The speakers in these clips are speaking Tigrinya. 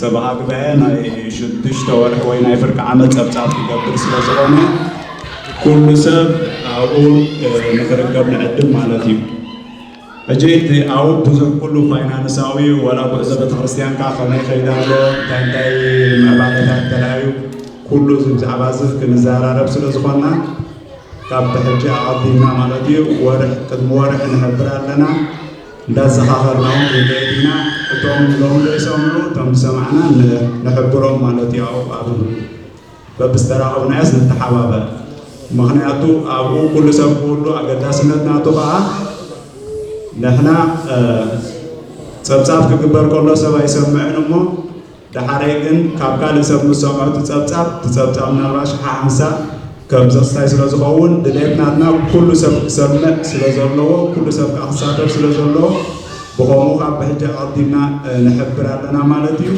ሰበሃግበ ናይ ሽዱሽተ ወርሒ ወይ ናይ ፍርቂ ዓመት ጸብጻብ ክገብር ስለ ዝኾነ ኩሉ ሰብ ኣብኡ ንኽርከብ ንዕድም ማለት እዩ። ሕጂ እቲ ኣብኡ ብዙሕ ኩሉ ፋይናንሳዊ ወላ ጉዕዞ ቤተክርስትያንካ ከመይ ይኸይድ ኣሎ እንታይ እንታይ ምዕባለታት ተራእዩ ኩሉ እዚ ብዛዕባ እዚ ክንዘራረብ ስለ ዝኾንና ካብ ብሕጂ ኣቐዲምና ማለት እዩ ወርሕ ቅድሚ ወርሒ ንሕብር ኣለና። እንዳዘኻኸርና'ውን ከይተየዲና እቶም ሎሚ ዘይሰምዑ እቶም ዝሰማዕና ንሕብሮም ማለት'ዩ ኣብኡ ኣብሉ በብስተራ ቁናያስ ንተሓባበር ምኽንያቱ ኣብኡ ኩሉ ሰብ ክህሉ ኣገዳስነት ናቱ ከዓ ንሕና ጸብጻብ ክግበር ከሎ ሰብ ኣይሰምዕን እሞ ደሓረይ ግን ካብ ካልእ ሰብ ምስ ሰምዖ እቲ ጸብጻብ እቲ ጸብጻብ ምናልባት ሽሓ ሓንሳእ ከም ዘኽስታይ ስለ ዝኸውን ድሌት ናትና ኩሉ ሰብ ክሰምዕ ስለ ዘለዎ ኩሉ ሰብ ከኣ ክሳተፍ ስለ ዘለዎ ብኸምኡ ካብ ብሕጂ ኣቐዲምና ንሕብር ኣለና ማለት እዩ።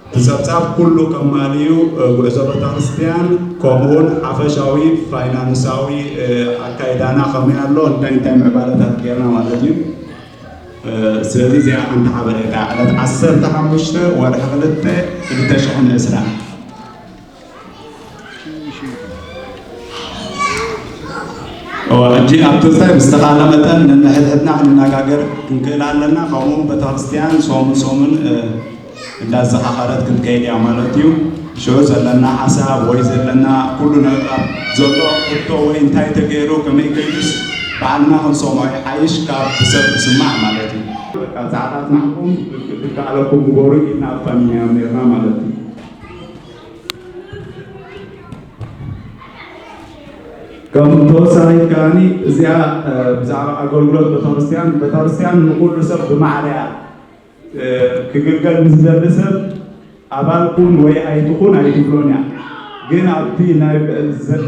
እቲ ጸብጻብ ኩሉ ቀማሊ እዩ ጉዕዞ በታክርስቲያን ከምኡውን ሓፈሻዊ ፋይናንሳዊ ኣካይዳና ከመይ ኣሎ እንታይ እንታይ ምዕባለታት ጌርና ማለት እዩ። ስለዚ እዚኣ ሓንቲ ሓበሬታ ዕለት ዓሰርተ ሓሙሽተ ወርሒ ክልተ ክልተ ሽሕን ዕስራን ሕጂ ኣብቲ እንታይ ብዝተኻእለ መጠን ነንሕድሕድና ክንነጋገር ክንክእል ኣለና ከምኡውን ቤተክርስትያን ሶምን ሶምን እንዳዘኻኸረት ክትከይድ እያ ማለት እዩ። ሽዑ ዘለና ሓሳብ ወይ ዘለና ኩሉ ነገር ዘሎ ሕቶ ወይ እንታይ ተገይሩ ከመይ ገይሩስ ባዕልና ክንሰምዖ ይሓይሽ ካብ ብሰብ ምስማዕ ማለት እዩ። በቃ ጻዕራት ናትኩም ብዝካኣለኩም ግበሩ ኢልና ኣፋኒናዮም ኔርና ማለት እዩ። ከም ተወሳኺት ከኣ እዚኣ ብዛዕባ ኣገልግሎት ቤተክርስትያን ቤተክርስትያን ንኹሉ ሰብ ብማዕረ እያ ክግልገል ንዝደሊ ሰብ ኣባል ኩን ወይ ኣይትኹን ኣይትብሎን እያ። ግን ኣብቲ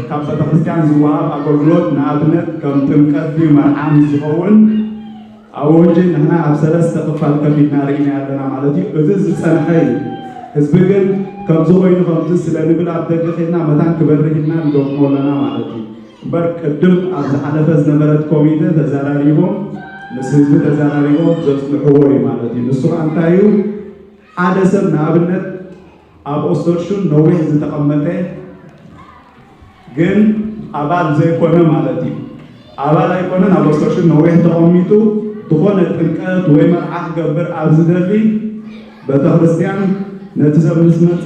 ካብ ቤተክርስትያን ዝወሃብ ኣገልግሎት ንኣብነት ከም ጥምቀት ድዩ መርዓ ምስ ዝኸውን ኣወጅ ንሕና ኣብ ሰለስተ ክፋል ከፊልና ርኢናዮ ኣለና ማለት እዩ። እዚ ዝጸንሐ እዩ። ህዝቢ ግን ከምዚ ኮይኑ ከምዚ ስለንብል ኣብ ደገ ከድና መታን ክበርህ ኢልና ንገጥሞ ኣለና ማለት እዩ። እምበር ቅድም ኣብ ዝሓለፈ ዝነበረት ኮሚተ ተዛራሪቦም ምስ ህዝቢ ተዛራሪቦም ዘፅንሕዎ እዩ ማለት እዩ። ንሱ ከዓ እንታይ እዩ ሓደ ሰብ ንኣብነት ኣብ ኦስተርሹን ነዊሕ ዝተቐመጠ ግን ኣባል ዘይኮነ ማለት እዩ ኣባል ኣይኮነ ናብ ኦስተርሹን ነዊሕ ተቐሚጡ ዝኾነ ጥምቀት ወይ መርዓ ክገብር ኣብ ዝደሊ ቤተክርስትያን ነቲ ሰብ ምስ መፀ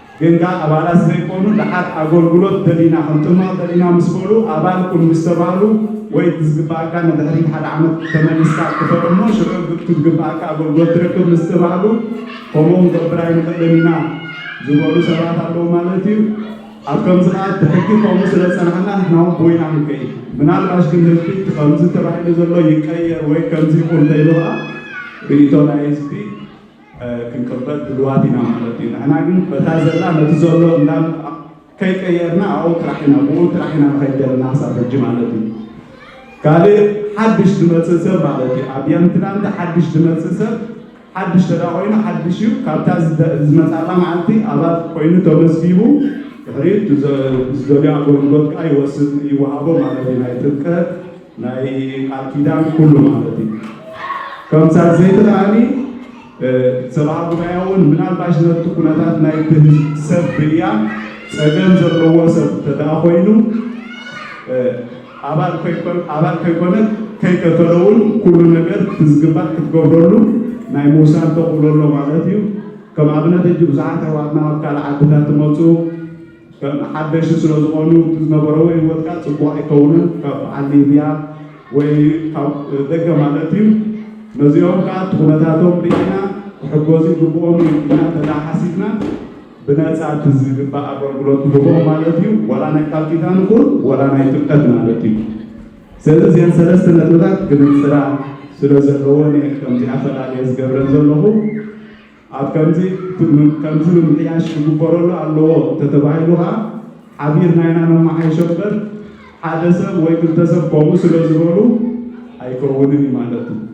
ግን ከኣ ኣባላት ዘይኮኑ ደሓር ኣጎልጉሎት ደሊና ክንጥመቕ ደሊና ምስ በሉ ኣባል ኩን ምስ ተባህሉ ወይ እቲ ዝግበኣካ ንድሕሪት ሓደ ዓመት ተመሊስካ ክፈል እሞ ሽዑ እቲ ዝግበኣካ ኣጎልጉሎት ትረክብ ምስ ተባህሉ ከምኡ ክንገብር ኣይንኽእልን ኢና ዝበሉ ሰባት ኣለዉ ማለት እዩ። ኣብ ከምዚ ከኣ እቲ ሕጊ ከምኡ ስለ ዝጸናሕና ንሕና ውን ብኡ ኢና ክንከይድ። ምናልባሽ ግን ህዝቢ እቲ ከምዚ ተባሂሉ ዘሎ ይቀየር ወይ ከምዚ ይኹን ተይሉ ከኣ ርእይቶ ናይ ህዝቢ ክንቅበል ድልዋት ኢና ማለት እዩ። ንሕና ግን በታ ዘላ ነቲ ዘሎ እንዳመጣ ከይቀየርና ኣብኡ ጥራሕ ኢና ብኡ ጥራሕ ኢና ንኸይድ ዘለና ክሳብ ሕጂ ማለት እዩ። ካልእ ሓድሽ ዝመጽእ ሰብ ማለት እዩ ኣብ የምትላንድ ሓድሽ ዝመጽእ ሰብ ሓድሽ ተዳ ኮይኑ ሓድሽ እዩ ካብታ ዝመጻላ መዓልቲ ኣባል ኮይኑ ተመዝጊቡ ድሕሪኡ ዝደልዮ ኣገልግሎት ከዓ ይወስድ ይወሃቦ ማለት እዩ ናይ ጥምቀት ናይ ቃል ኪዳን ኩሉ ማለት እዩ ከም ሳልሰይቲ ከዓኒ ሰብኣ ጉባኤ እውን ምናልባሽ ነቲ ኩነታት ናይቲ ሰብ ብያ ፀገም ዘለዎ ሰብ እንተደኣ ኮይኑ ኣባል ኣባል ከይኮነ ከይከፈለ እውን ኩሉ ነገር ትዝግባእ ክትገብረሉ ናይ ምውሳን ተኽእሎ ኣሎ ማለት እዩ። ከም ኣብነት ሕጂ ብዙሓት ኣሕዋትና ኣብ ካልእ ዓድታት ትመፁ ከም ሓደሽቲ ስለዝኾኑ እቲ ዝነበረዎ ሂወትካ ፅቡቕ ኣይከውንን ካብ በዓል ሊብያ ወይ ካብ ደገ ማለት እዩ ነዚኦም ከዓ እቲ ኩነታቶም ሪኢና ክሕገዙ ይግብኦም እዩ ኢልና እንተድኣ ሓሲብና ብነፃ እቲ ዝግባእ ኣገልግሎት ንህቦም ማለት እዩ ዋላ ናይ ቃል ኪዳን ይኹን ዋላ ናይ ጥምቀት ማለት እዩ ስለዚ እዚኣን ሰለስተ ነጥብታት ክንፅራ ስለዘለወን እየ ከምዚኣ ፈላልየ ዝገብረን ዘለኹ ኣብ ከምዚ ከምዚ ምምሕያሽ ክግበረሉ ኣለዎ እንተተባሂሉ ከኣ ሓቢርና ኢና ነመሓይሾ እምበር ሓደ ሰብ ወይ ክልተ ሰብ ከምኡ ስለዝበሉ ኣይከውንን እዩ ማለት እዩ።